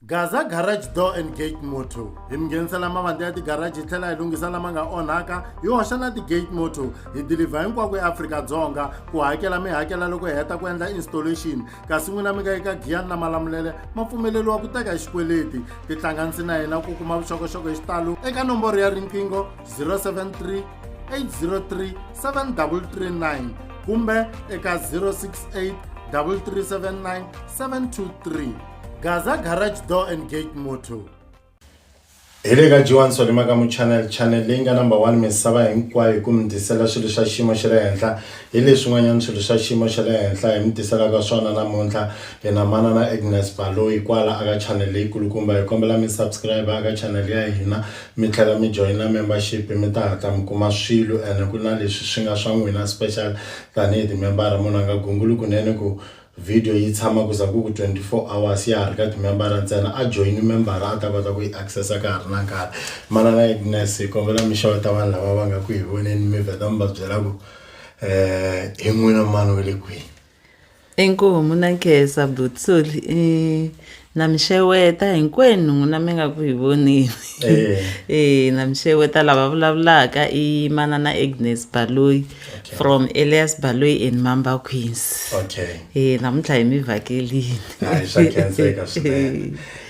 Gaza Garage Door and Gate Motor hi mi nghenisela mavandla ya tigaraji hi tlhela hi lunghisa lama nga onhaka hi hoxa na ti-gate motor hi dilivha hinkwako eAfrika-Dzonga ku hakela mi hakela loko hi heta ku endla installation kasi n'wina mi nga eka giyani na malamulele ma pfumeleriwa ku teka hi xikweleti tihlanganisi na hina ku kuma vuxokoxoko hi xitalo eka nomboro ya riqingho 073 803 7339 kumbe eka 068 3379 723 gaza garage door and gate moto hi le ka jiwani swalima ka muchanel chanel leyi nga number one misava hinkwayo hi ku mi tisela swilo swa xiyimo xa le henhla hi leswin'wanyana swilo swa xiyimo xa le henhla hi mi tiselaka swona namuntlha hi na manana agnes baloyi kwala aka chanel leyikulukumba hi kombela mi subscribe aka chanel ya hina mi tlhela mi joyina membership mi ta hatla mi kuma swilo ene ku na leswi swi nga swa n'wina special tanihi timembara munhu a nga gunguli kunene ku Video yi tshama ku za ku ku 24 hours ya ha ri ka timembara ntsena. A join membara a ta kota ku yi access-a ka ha ri na nkarhi. Manana Agnes hi kombela mi xeweta vanhu lava va nga ku hi voneni mi vheta mi va byela ku um hi n'wina mani wa le kwihi. Inkomu na nkhensa Butsoli i na mi xeweta hinkwenu n'wina mi nga ku hi vonile eh. eh na mi xeweta lava vulavulaka i manana agnes baloyi okay. from elias baloyi and mamba queens okay. eh namuntlha hi mi vhakelini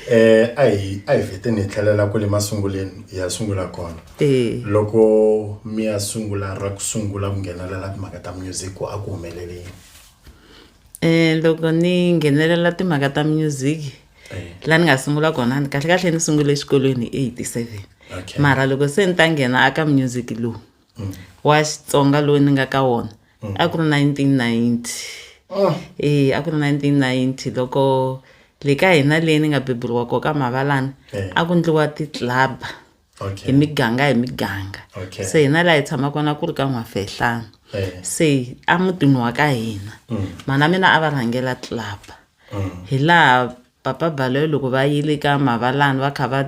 eh a hi a hi feteni hi tlhelela kwale masunguleni hi ya sungula kona eh. loko mi ya sungula ra ku sungula ku nghenelela timhaka ta music a ku humeleleni um loko ni nghenelela timhaka ta music laha ni nga sungula kona ni kahle kahle ni sungule exikolweni hi eighty seven okay. mara loko se ni ta nghena aka music lowu mm. wa xitsonga lowu ni nga ka wona mm. a ku ri nineteen ninety oh. e a ku ri nineteen ninety loko le ka hina leyi ni nga beburiwa ko ka mavalana eh. a ku ndliwa titlaba okay. hi miganga hi miganga okay. se hina laha hi tshama kona ku ri ka n'wafehlana eh. se a mutini wa ka hina mm. mana mina a va rhangela club mm. hi laha papa baloyi loko va yile ka mavalani va kha va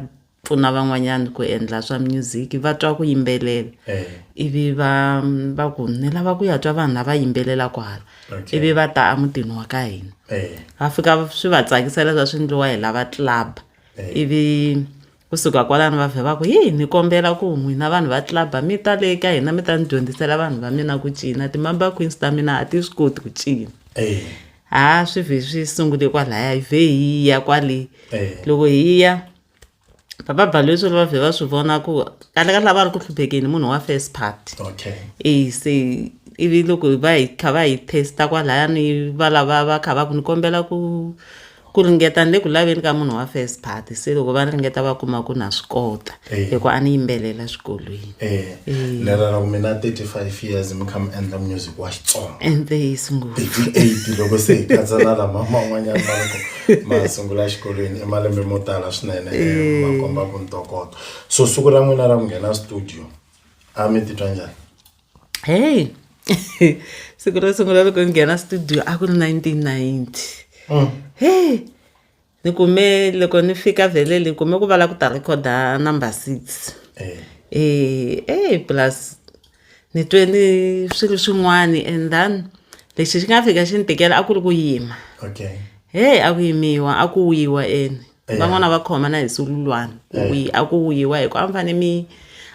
pfuna van'wanyana ku endla swa music va twa ku yimbelela eh. ivi va va ku ni lava ku ya twa vanhu lava yimbelela kwala okay. ivi va ta emutini wa ka hina eh. va fika swi va tsakisa leswa swi endliwa hi lava club eh. ivi Ku suka kwalano va vhe va ku, Hi, ni kombela ku n'wina vanhu va tlilabha mi ta le ka hina mi ta ni dyondzisela vanhu va mina ku cina. Ti-Mambazo Queens ta mina a ti swi koti ku cina. Ha swi vhe swi sungule kwalaya, hi vhe hi ya kwale. Loko hi ya, Papa Balwetsolo va vhe va swi vona ku kahle kahle a va ri ku hluphekeni hi munhu wa first party. E se ivi loko va hi kha va hi test-a kwalaya ni valava va kha va ku ni kombela ku. ku ringeta ni le ku laveni ka munhu wa first party se loko va ringeta va kuma ku na swi kota eh. hi ku a ni yimbelela swikolweni eh. eh. lera ra ku mina 35 years mi kha mi endla music wa xitsonga enteyisi ngo 38 loko se hi katsa na lama man'wanyana ma loko ma sungula xikolweni i malembe mo tala swinene ma komba ku ntokoto so siku ra n'wina ra ku nghena studio a mi titwa njhani hey siku ro sungula loko ni nghena studio a ku ri nineteen ninety mm. hey ni kume loko ni fika vhele ni kume ku va la ku ta recorda number six eh. eh eh plus ni twe ni swilo swin'wani and then lexi xi nga fika xi ni tikela a ku ri ku yima okay hey a ku yimiwa a ku wiwa ene van'wana va khomana hi sululwana ku eh. a ku wuyiwa hi ku a mi fanele mi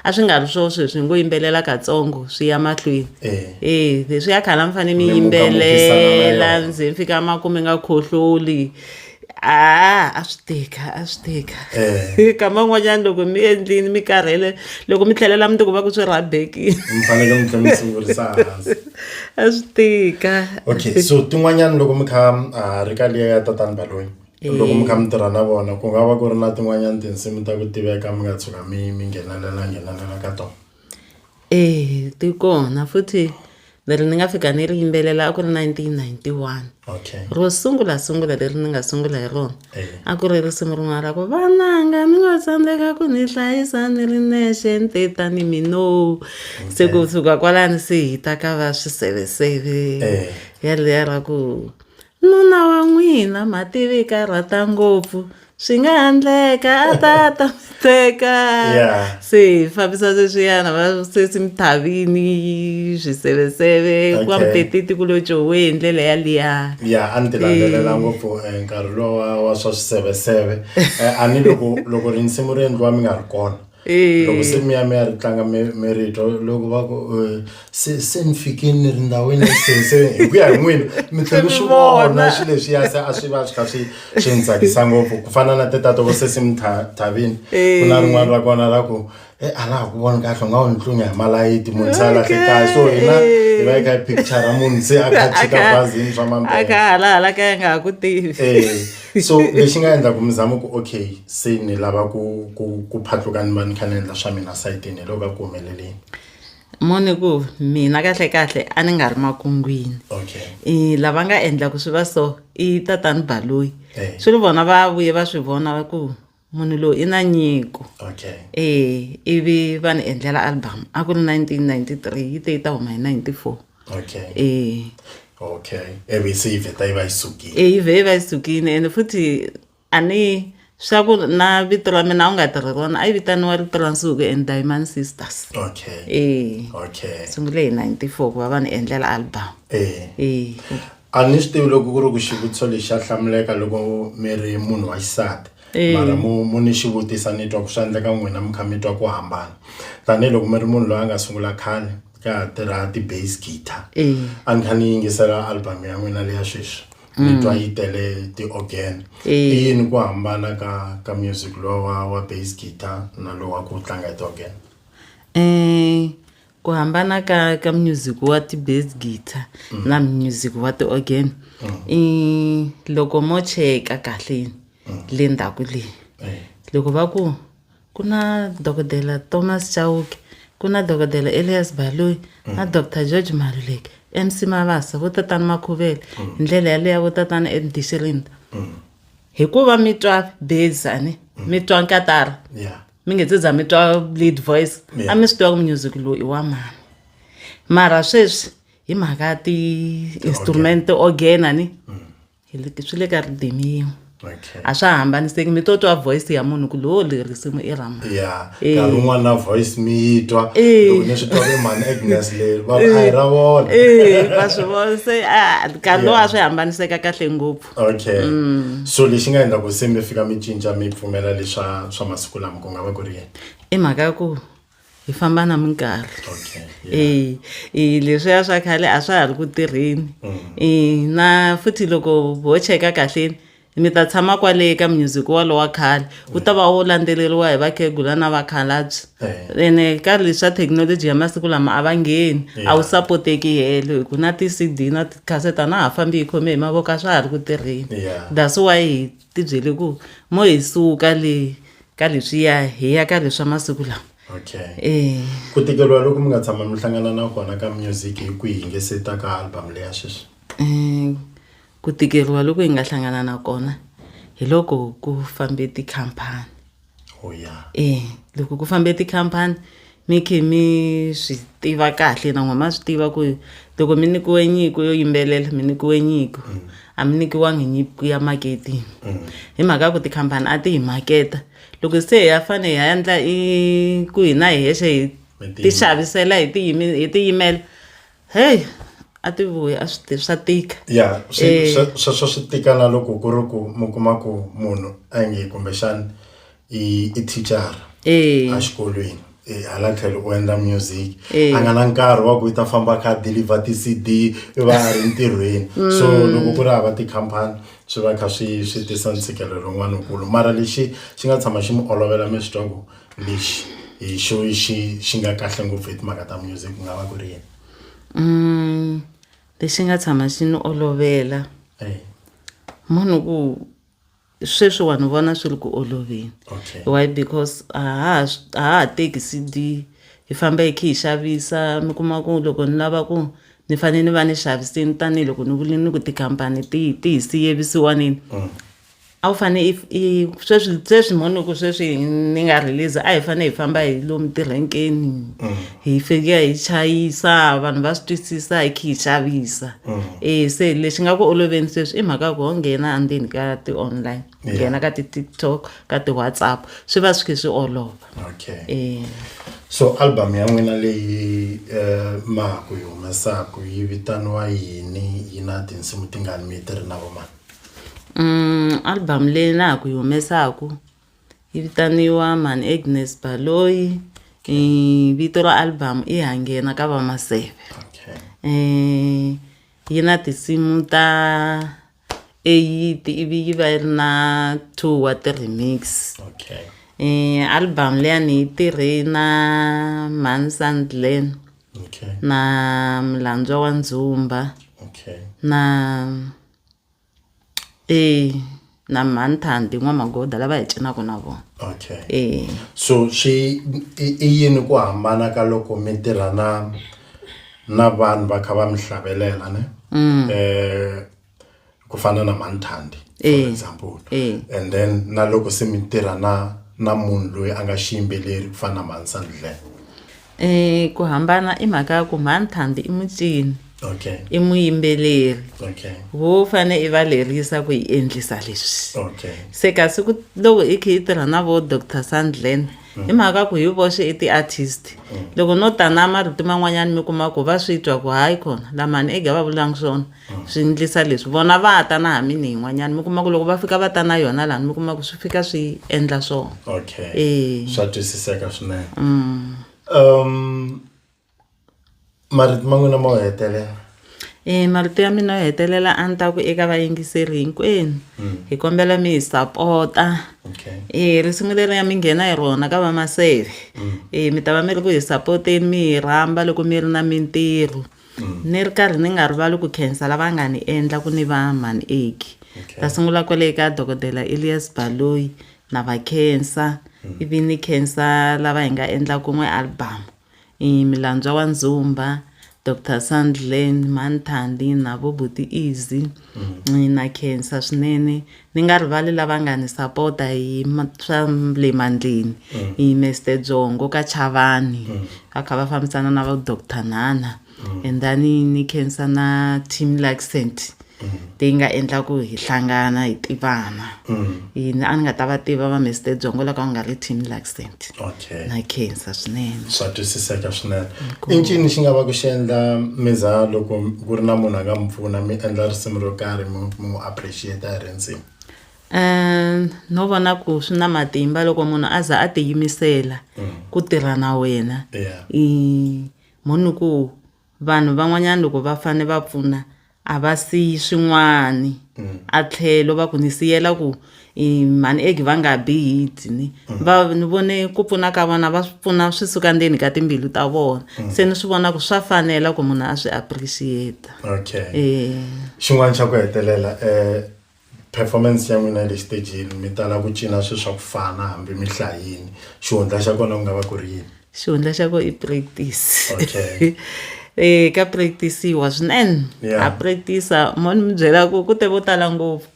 a swi nga ri swo sweswi hi ngo yimbelela katsongo swi ya mahlweni eh. e leswi ya khale a mi fanele mi yimbelela ndzi mi fika makume nga khohloli a a swi tika a swi tika eh. kama n'wanyana loko mi endlini mi karhele loko mi tlhelela mi ti kuma ku swi rhabekile a swi tika okay so tin'wanyana loko mi kha a ah, ri ka liya ya tatani baloyi Loko mi kha mi tirha na vona ku nga va ku ri na tin'wanyana tinsimu ta ku tiveka mi nga tshuka mi mi nghenelela nghenelela ka tona. Eya ti kona futhi leri ni nga fika ni ri yimbelela a ku ri nineteen ninety one Okay. ro sungula sungula leri ni nga sungula hi rona Eya. a ku ri risimu rin'wana ra ku vananga mi ngo tsandzeka ku ni hlayisa ni ri nexe ni te tani mino se ku suka kwalani se hi ta ka va swiseveseve Eya. yaliya ra ku Nuna wa n'wina Mativika a rhata ngopfu swi nga ha ndleka a ta ta mi teka se hi fambisa sweswiyana va sesimuthavini swiseveseve ku va muteteti ku lo jowe hi ndlela ya liya ya a ni ti landzelela ngopfu eh, nkarhi lowa wa swa swiseveseve eh, a ni loko loko rinsimu ri endliwa mi nga ri kona loko se mi ya mi ya ri tlanga mi mi ri twa loko va ku eh, se se ni fikile ni ri ndhawini ya se se hi ku ya hi n'wina mi tlhe mi swi vona swi leswiya se a swi va swi kha swi swi ni tsakisa ngopfu ku fana na tetato vo se si mi tha- thavini ku na rin'wana ra kona ra ku e a laha ku voni kahle u nga wu ni tlunya hi malayiti munhu se a lahle kahle so hina hi va hi kha hi picture ra munhu se a kha a chika bazini swa a mambele ka halahala ka ya nga ha ku tivi Eh. so lexi nga endla ku mi zama ku okay se ni lava ku ku ku phatluka ni va ni kha ni endla swa mina sayitini hi loko ka ku humeleleni mone ku mina kahle kahle a ni nga ri makungwini okay i lava nga endla ku swi va so i tatani baloyi Eh. swi ri vona va vuye va swi vona va ku munhu loyi i na nyiko okay e ivi va ni endlela album a ku ri 1993 yi te yi ta huma hi 94 okay e okay ivi se yi vheta yi va yi sukile e yi vhe yi va yi sukile ene futhi a ni swa ku na vito ra mina a wu nga tirhi rona a yi vitaniwa rito ra nsuku and diamond sisters okay e okay sungule hi 94 ku va va ni endlela album e e a ni swi tivi loko ku ri ku xivutiso lexi xa hlamuleka loko mi ri munhu wa xisati eh. mara mu mu ni xi vutisa ni twa ku swi endleka n'wina mi kha mi twa ku hambana tanihiloko mi ri munhu loyi a nga sungula khale ka ha tirha ti-base guitar eh. a ni kha ni yingisela album ya n'wina leya sweswi ni mm. twa yi tele ti-organ eh. i yini ku hambana ka ka music lowa wa base guitar na lowa ku tlanga hi ti-organ um ku hambana ka ka music wa ti-bass guitar mm. na music wa ti-organ mm. i loko mo cheka kahle mm. le ndzhaku leyi eh. loko va ku ku na dokodela thomas chauke ku na dokodela elias baloyi na doctor george maluleke mc mavasa vo tatana makhuvele hi ndlela yaleya vo tatana edishirinda hikuva mi twa bezane mi twa nkatara mi nge se za mi twa lead voice a mi swi tiva ku music lowu i wa mani mara sweswi hi mhaka ya ti-instrument ti-organ a ni mm. swi le ka ridimi yin'we a swa hambaniseki mi to twa voice ya munhu ku lowo leri risimu i rama ya eh. nkarhi wun'wana na voice mi yi twa eh. loko ni swi twa ve mani agnes leri va a hi ra vona eh, va swi vona se nkarhi lowu a swi hambaniseka kahle ngopfu okay mm. so lexi nga endla ku se mi fika mi cinca mi pfumela leswa swa masiku lama ku nga va ku ri yini i mhaka ya ku hi famba na minkarhi okay, yeah. e, e, leswiya swa khale a swa ha ri ku tirheni mm. e, na futhi loko ho cheka kahleni mi ta tshama kwale ka music walowa khale wu ta va wu landzeleriwa hi vakhegula na vakhalabye eh. ene nkarhi leswi swa thekinoloji ya masiku lama a va ngheni a wu sapoteki helo hi ku na ti-cd na tikhaseta na ha fambi hi khome hi mavoko a swa ha ri ku tirheni that's why hi tibyele ku mo hi suka le ka leswiya hi ya ka leswa masiku lama okay eh. ku tikeriwa loko mi nga tshama mi hlangana na kona ka music hi kwihi nge se ta ka album leya sweswi um Ku tikeriwa loku hi nga hlangana na kona hi loko ku fambe tikhampani oh, yeah. e loko ku fambe tikhampani mi khe mi swi tiva kahle na n'we ma swi tiva ku loko mi nyikiwe nyiko yo yimbelela mi nyikiwe nyiko mm. a mi nyikiwangi nyiko ya maketini mm. hi mhaka ku tikhampani a ti hi maketa loko se hi ya fane hi ya endla i ku hina hi hexe hi ti xavisela hi tiyimela heyi a ti vuyi a swi swa tika ya eh. sweswo swi tika na loko ku ri ku mi kuma ku munhu a nge kumbexana i i thicara eh. exikolweni eh, hala tlhelo u endla music a nga na nkarhi wa ku yi ta famba kha deliver ti-cd i va a ri ntirhweni mm. so loko ku ri hava tikhampani swi va kha swi swi tisa ntshikelelo wun'wana wukulu mara lexi xi nga tshama xi mi olovela mi swi twa ku lexi hi xo xi xi nga kahle ngopfu hi timhaka ta music ku nga va ku ri yini mm, lexi nga tshama xi ni olovela eh. munhu ku sweswi vanhu vona swi ri ku oloveni okay. why because a ha ha teki cd hi famba hi khe hi xavisa mi kuma ku loko ni lava ku ni fanele ni va ni xaviseni tanihiloko ni vule ni ku tikhampani ti ti hi siyevisiwanini mm. a wu fane i i sweswi sweswi mhani ku sweswi ni nga release a hi fane hi famba hi lomu tirenkeni mm. hi fika hi chayisa vanhu va swi twisisa hi khe hi xavisa mm. e se lexi nga ku oloveni sweswi i mhaka ku ho nghena andzeni ka ti-online nghena ka ti-tiktok ka ti-whatsapp swi va swi khe swi olova okay e. so album ya n'wina leyi um eh, maku yi humesaku yi vitaniwa yini yi na tinsimu tingani mi yi tirhi na vomani album leyi na ha ku yi humesaku yi vitaniwa Mhani Agnes Baloyi vito ra album i Ha nghena ka va Maseve yi na tinsimu ta eight ivi yi va yi ri na two wa ti-remix album leya ni yi tirhe na mhani Sandlen. okay. na mulandzwa wa ndzumba okay. na e na manthandi n'wamagoda lava hi cinaka na vona okay. e so swi i yini ku hambana ka loko mi tirha na na vanhu va kha va mi hlavelela ne mm. eh, ku fana na manthandi for eh, example eh. and then na loko se mi tirha na na munhu loyi a nga xiyimbeleri ku fana na mansandle um ku hambana i mhaka ya ku manthandi i mucini okay. i muyimbeleri okay. wo fane i va lerisa ku yi endlisa leswi okay. se kasi ku loko i khe yi tirha na vo doctor sandlen mm. i mhaka ku hi voxe i ti-artist mm. loko no ta na marito man'wanyana mi kuma ku va swi twa ku hayi kona lamani ega va vulangi swona swi ndlisa leswi vona va ta na ha mini yin'wanyana mi kuma ku loko va fika va ta na yona lani mi kuma ku swi fika swi endla swona okay Eh. swa twisiseka swinene Mm. um marito ma n'wina ma wu hetelela e marito ya mina yo hetelela a ni ta ku eka vayingiseri hinkwenu hi kombela mi hi sapota okay e risimu leri ya mi nghena hi rona ka vamaseve e mi ta va mi ri ku hi sapoteni mi hi rhamba loko mi ri na mintirho ni ri karhi ni nga rivali ku khensa lava nga ni endla ku ni va mhanieki okay. ta sungula kwale ka dokodela elias baloyi na va khensa mm. ivi ni khensa lava hi nga endla kun'we albamu i milandzwa wa ndzumba dr sandland manthandi na vobuti easy mm. na khensa swinene ni nga rivali lava nga ni sapota hi swa le mandleni mm. hi Mister Dzongo ka Chavani mm. va kha va fambisana na va Dr Nana mm. and then ni khensa na team Luxent leyi nga endla ku hi hlangana hi tivana yini a ni nga ta va tiva va Mister Dzongo loko a nga ri team Luxent okay. okay. na khensa swinene swa twisiseka swinene i ncini xi nga va ku xi endla miza loko ku ri na munhu a nga mi pfuna mi endla risimu ro karhi mi n'wi appreciate hi rindzimi um no vona ku swi na matimba loko munhu a za a tiyimisela mm. ku tirha na wena yeah. i munhu ku Vanhu van'wanyana loko va fane va pfuna a va siyi swin'wani a tlhelo va ku ni siyela ku i mhani eg va nga bi hi dzi ni va ni vone ku pfuna ka vona va swi pfuna swi suka ndzeni ka timbilu ta vona se ni swi vona ku swa fanela ku munhu a swi appreciate-a okay xin'wani xa ku hetelela um Performance ya n'wina ya le xitejini mi tala ku cina swilo swa ku fana hambi mi hlayini xihundla xa kona ku nga va ku ri yini xihundla xa ko i practice okay eh ka practice-iwa swinene Yeah. ha practice mo ni mi byela ku ku te vo tala ngopfu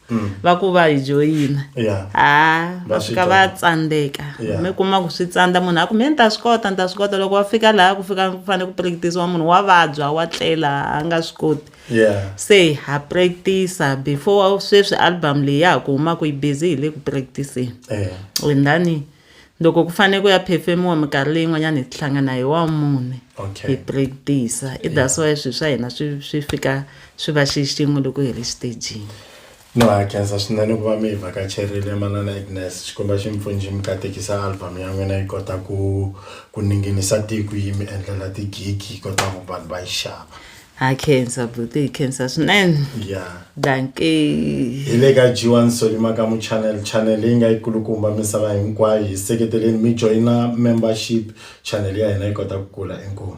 va ku va hi joyina Yeah. ha Va va swi fika va twa. tsandzeka Yeah. mi kuma ku swi tsandza munhu a ku me ni ta swi kota ni ta swi kota loko va fika laha ku fika ku fanele ku practice-iwa munhu wa vabya wa tlela a nga swi koti yeah. se ha practice before sweswi album leyi ya ha ku humaka yi busy hi le ku practiceni yeah. wendani loko ku fanele ku ya phefemiwa minkarhi leyi n'wanyana hi tihlangana hi wa mune hi practice i that's why swilo swa hina swi swi fika swi va xi xin'we loko hi ri xitejini No ha khensa swinene ku va mi hi vhakacherile Manana Agnes Xikwembu a xi mi pfunji mi katekisa album ya n'wina yi kota ku ku ninginisa tiko yi mi endlela tigigi yi kota ku vanhu va yi xava ha khensa buti hi khensa swinene ya danke hi le ka g1 solimakamu channel channel leyi nga yi kulukumba misava hinkwayo hi seketeleni mi joyina membership channel ya hina yi kota ku kula inkomu